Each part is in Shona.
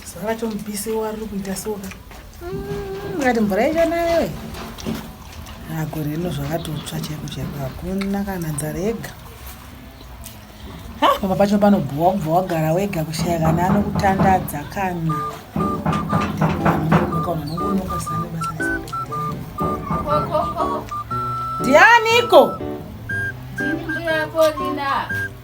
zuva racho mupisi wariri kuita soka mm, ngati mvura yacho nayo agore rino zvakatotsva chaiko chaiko hakuna kana nzara yega pamba pacho panobhowa kubva wagara wega kushaya kana anokutandadza kana ndianiko Thank you.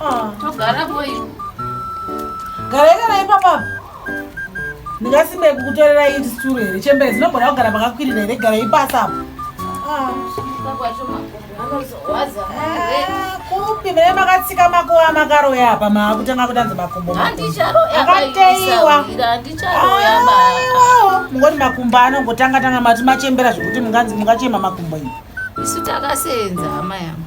Ah. Togara boy. Garai garai papa. Ndingasimbe kukutorera iyi sturu here chembere dzinogona kugara pakakwirira here garai pasi apo. Ah. Ah, kupi mune makatsika makuva makaroya apa maakutanga kutanza makumbo akateiwa mungoti makumbo anongotanga tanga mati machembera zvekuti mungachema makumbo ii isu takasenza hama yangu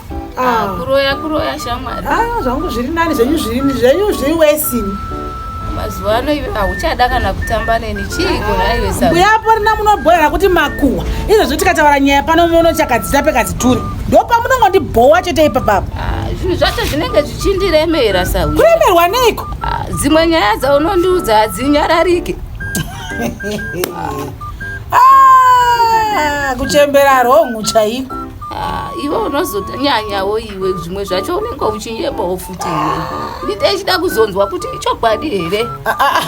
Ah, ah. kuroya kuroya shamwari ah, zvangu zviri nani zvenyu zvirini zvenyu zviri wesini mazuva ano ive hauchada kana kutamba neni chiiko naiwesabuyapo rina munobhoera kuti makuhwa izvozvo tikataura nyaya pano muno chakadzita pekadzituri ndopamunongondibhowa chete ipapapa zvinhu zvacho zvinenge zvichindiremera sawi kuremerwa neiko dzimwe nyaya dzaunondiudza hadzinyararike kuchembera rongu chaiko Ah, iwe unozotanyanyawo iwe zvimwe zvacho unenge uchinyebawo futi iwe ndite ichida kuzonzwa kuti ichokwadi here ah, ah,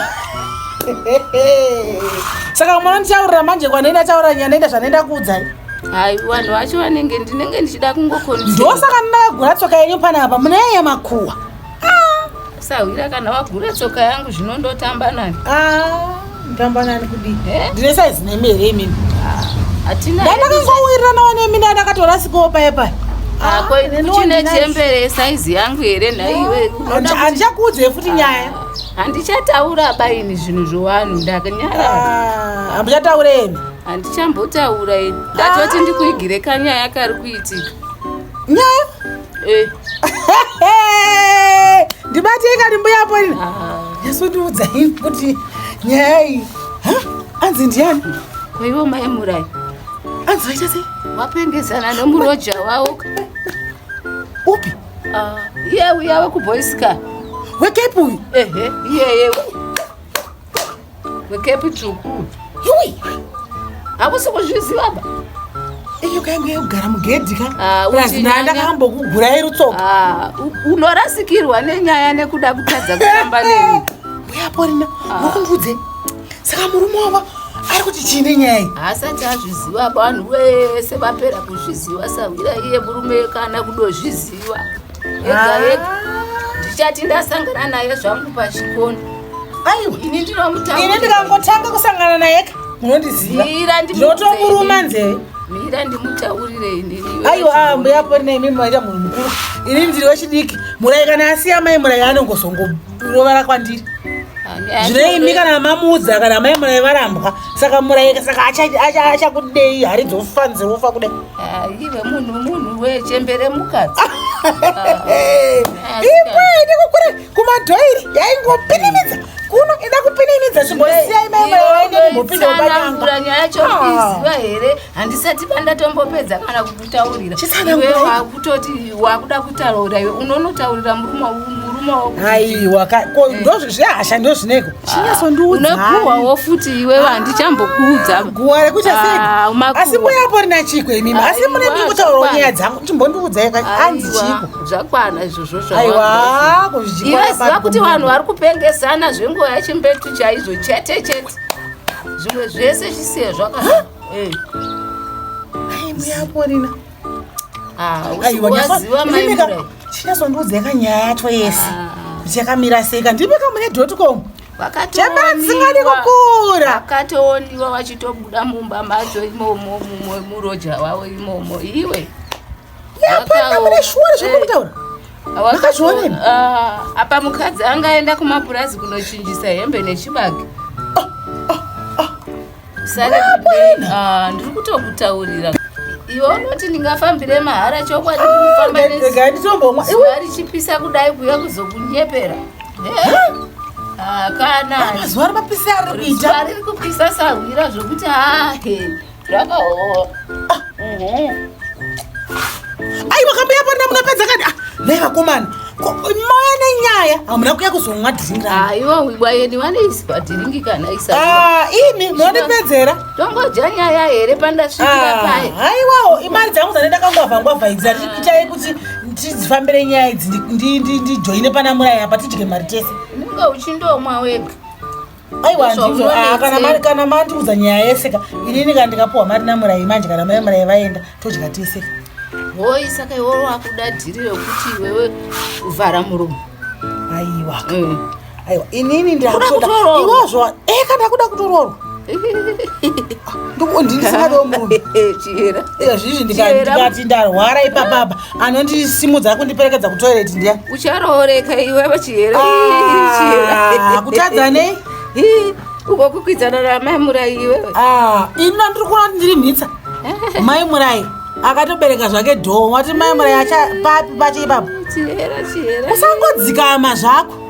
saka mwana ndichaurira manje kwandenda achaurira nyaya ndaita zvandaenda kuudzai hai vanhu vacho vanenge ndinenge ndichida kungokonndosaka ndinakagura tsoka yenyu panapa munenyaya yemakuwa sahwira kana wagura tsoka yangu zvino ndotamba nayo ah, ndotamba nani kudii eh? ndine saizi nemi here imimi ndandakangowirirana wanemi nda ndakatora sikowo paye paye ah, kuchine chembere saizi yangu here nhaiwe handichakuudzei futi nyaya handichataura baini zvinhu zvowanhu ndakanyara hambuchataura imi handichambotaura ini ndatoti ndikuigire kanyaya kari kuitika nyaya Eh. ndibate ikati mbuya pori yasundiudza ah. i kuti nyaya iyi anzi ndiyani kwaivo mai murai anzi vaita sei vapengesana nomuroja wavo upi ah, iye uya wekuboyska wekepi uyu ehe iyeye wekepi tsvuku yoi hakusi kuzviziva ba iyo kaingu yekugara mugedhi ka Ah, plus uchinyanya. ndaa ndakambokugurai rutsoka Ah, u- unorasikirwa nenyaya nekuda kutadza kutamba neni mbuya porina mukundiudze saka murume wavo ari kuti chii nenyaya iyi haasati azviziva vanhu vese vapera kuzviziva sahwira iye murume kana kudozviziva yega yega ndichati ndasangana naye zvangu pachikoni aiwa ini ndinomutaura ini ndikangotanga kusangana naye ka munondiziva ndotomuruma nzeve mira ndimutaurire inini aiwa ah, mbuya pori naimi maita munhu mukuru ini ndiri wechidiki murai kana asiya mai murai anongozongo rovara kwandiri zvine imi kana mamuudza kana mai murai varambwa saka murai saka achakudei hari dzofanzi wofa kudai ive munhu munhu wechembere mukadzi ipo ine kukura kumadhoiri yaingopinimidza kuno ida kupinimidza zvimbosiyai mai murai waende kumbopinda ubanyanga nyaya yacho iziva here handisati pandatombopedza kana kutaurira iwe wakutoti wakuda kutaurira iwe unonotaurira murume aiwa ko eh. ndozvehasha ndozvineko ah, chinyasondiudzaguwawo futi iwe vandichambokuudza ah, guwa rekuchaseiasi ah, muyapo rina chiko imimi asi mune ndikutaurawo nyaya dzangu chimbondiudzai anzi chiko zvakwana izvozvo zvaiwaiwe ziva kuti vanhu vari kupengesana zvenguva yachimbetu chaizvo chete chete zvimwe zvese zvisiye zvaka Eh. Ai mbuya Porina. Ah, aiwa nyaziwa mai mbuya. Chinazondiudza kanyaya yacho yese. Ah. Kuti yakamira sei ka ndipe kamune dot com. Vakatoondiwazingadi kukura. Vakatoondiwa vachitobuda mumba macho imomo mumwe muroja wavo imomo iwe. Yapana mune shuwa zvekutaura. Eh. vakazvionei ah, apa mukadzi angaenda kumapurazi kunochinjisa hembe nechibage Ah, ndiri kutokutaurira iwe unoti ndingafambire mahara chokwadi kufamba ah, nezvaitomboomwa iwe richipisa kudai kuya kuzokunyepera hakanazuva ah, rimapisa riri kuita riri kupisa sahwira zvokuti hahe rakaoo Ai wakambuya pana munapedza kani? Ah, nei vakomana. Moya nenyaya hamuna kuya kuzomwa dhiringi. Aiwa ah, wibwa yeni wane iswa dhiringi kana isa. Ah, imi monipedzera. Tongodya nyaya here pandasvikira ah, paye. Aiwawo imari dzangu dzane ndakangwavha ngwavha idzi dzati kuchaye kuti tidzifambire nyaya idzi ndijoine pana muraya apa tidye mari tese. Unenge uchindomwa wega. aiwa handizo ah, kana mari kana mandiudza nyaya yese ka inini ka ndikapuwa mari namurai manje kana mai murai vaenda todya tese ka hoi saka iwewo wakuda dhiri rekuti iwewe kuvhara muromo aiwa mm. aiwa inini ndakutoda iwozvo eh kana kuda kutoroorwa ndiko ndini singadiwo murume chiyera izvizvi ndikati ndarwara ipapapa anondisimudza akundiperekedza kutoilet ndiya ucharooreka iwe vachihera ah, kutadza nei uko kukwidzana ramai murai iwe ah, ini andiri kuona kuti ndiri mhitsa mai murai akatobereka zvake dhoo wati mai murai acha papi pacho ipapo usangodzikama zvako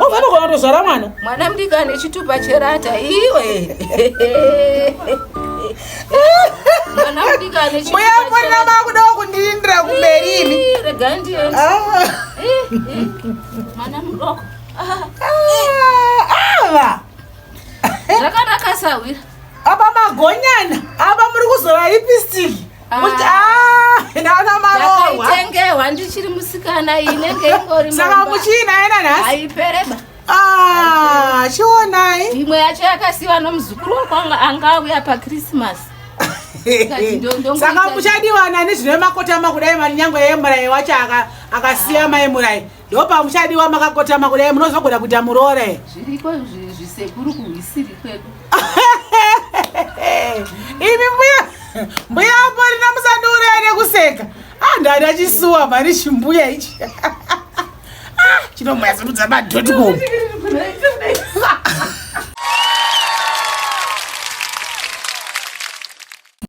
Ufanogona oh, kutozvara mwana. Mwana mdika ane chitupa cherata iwe. Mwana mdika ane chitupa. Mbuya mwana makuda kundindira kumberi ini. Rega ndiende. Ah. Mwana mdoko. Ah. Ava. Zvakanaka sahwira. Apa magonyana. Apa muri kuzora lipstick. ndakaitengewa ndichiri musikana inenge ingori saka muchiina yena nhasi aipereba ah, chionai imwe yacho yakasiwa nomuzukuru wakwanga anga auya pakrisimasi saka muchadivana nezvine makotama kudai mari nyangwe yemurai wacho akasiya mai murai ndopa muchadiwa makakotama kudai munozogona kuita muroore zviriko zvisekuru kuhwisiri kwedu imi mbuya mbuya amborina musandiuraya nekuseka ah, ndada chisuwa mari chimbuya ichi ah, chinomuyazimudza madotcom